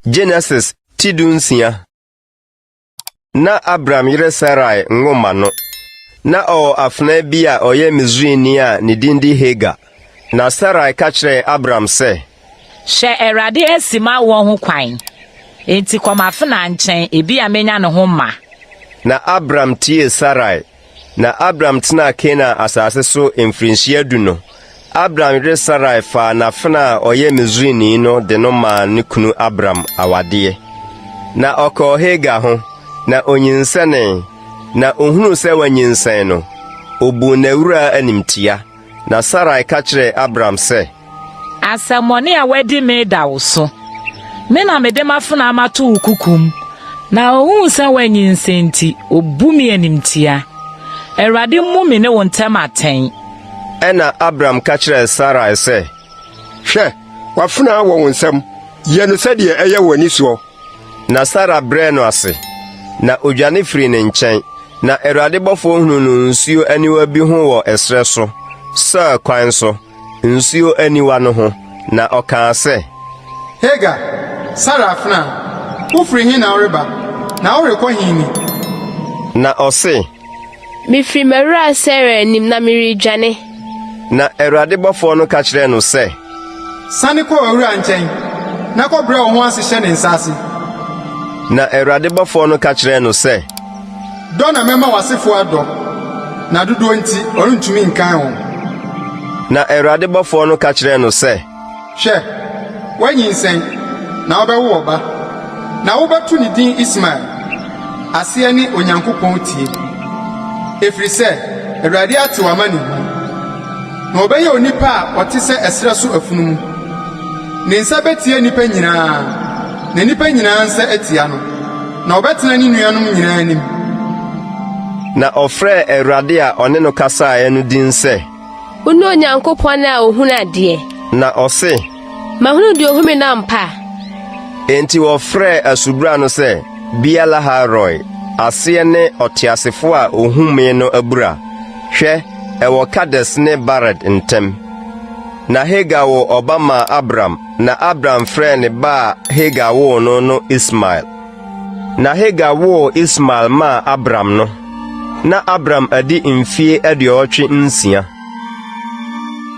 Genesis ti du nsia na Abram yere Sarai nwo mma no. Na ɔwɔ afenaa bi a ɔyɛ Misrini a ne din de Hagar. Na Sarai ka kyerɛɛ Abram sɛ, Hyɛ Awurade asi m'awoɔ ho kwan, enti kɔ m'afenaa nkyɛn, ebia menya ne ho mma. Na Abram tiee Sarai. Na Abram tenaa Kanaan asase so mfirinhyia du no, Abram yere Sarai faa n'afenaa a ɔyɛ Misrini no de no maa ne kunu Abram awadeɛ. Na ɔkɔɔ Hagar ho, na onyinsɛnee, na ohunuu sɛ wanyinsɛn no, obuu n'awuraa animtia. Na Sarai ka kyerɛɛ Abram sɛ. Asɛmmɔne a wadi me da wo so. Me na mede m'afenaa mato wo kukum, na ohuu sɛ woanyinsɛn nti, obu me animtia. Awurade mmu me ne wo ntam atɛn. Ɛnna Abram ka kyerɛɛ Sarai sɛ. Hwɛ, w'afenaa wɔ wo nsam. Yɛ no sɛdeɛ ɛyɛ w'ani soɔ. Na Sara brɛɛ no ase, na odwane firii ne nkyɛn. Na Awurade bɔfoɔ hunuu no nsuo aniwa bi ho wɔ ɛserɛ so, Sur kwan so, nsuo aniwa no ho, na ɔkaa sɛ. Hagar, Sara afenaa, wofiri he na woreba, na worekɔ he ni? Na ɔse. Mefiri m'awuraa Sera anim, na meredwane. Na Awurade bɔfoɔ no ka kyerɛɛ no sɛ. Sane kɔ w'awuraa nkyɛn, na kɔbrɛ wo ho ase hyɛ ne nsa ase. Na Awurade bɔfoɔ no ka kyerɛɛ no sɛ. Dɔ na mɛma w'asefoɔ adɔ, na dodoɔ nti, ɔrentumi nkan wɔn. Na Awurade bɔfoɔ no ka kyerɛɛ no sɛ. Hwɛ, woanyinsɛn, na wobɛwo ɔba, na wobɛto ne din Ismael. Aseɛ ne Onyankopɔn Tie. Ɛfiri sɛ Awurade ate w'amanehunu, na ɔbɛyɛ onipa a ɔte sɛ ɛserɛ so afunumu. Ne nsa bɛtia nnipa nyinaa, na nnipa nyinaa nsa atia no, na ɔbɛtena ne nuanom nyinaa anim. Na ɔfrɛɛ Awurade a ɔne no kasaeɛ no din sɛ. Wone Onyankopɔn a ohunu adeɛ. Na ɔse. Mahunu deɛ ohome no ampa. Enti wɔfrɛɛ asubura no sɛ Bia Laharoi, aseɛ ne ɔteasefoɔ a ohumee no abura. Hwɛ, ɛwɔ Kades ne Bared ntam. Na Hagar woo ɔba maa Abram, na Abram frɛɛ ne ba a Hagar woo no no Ismael. Na Hagar woo Ismael maa Abram no, na Abram adi mfie aduɔwɔtwe nsia.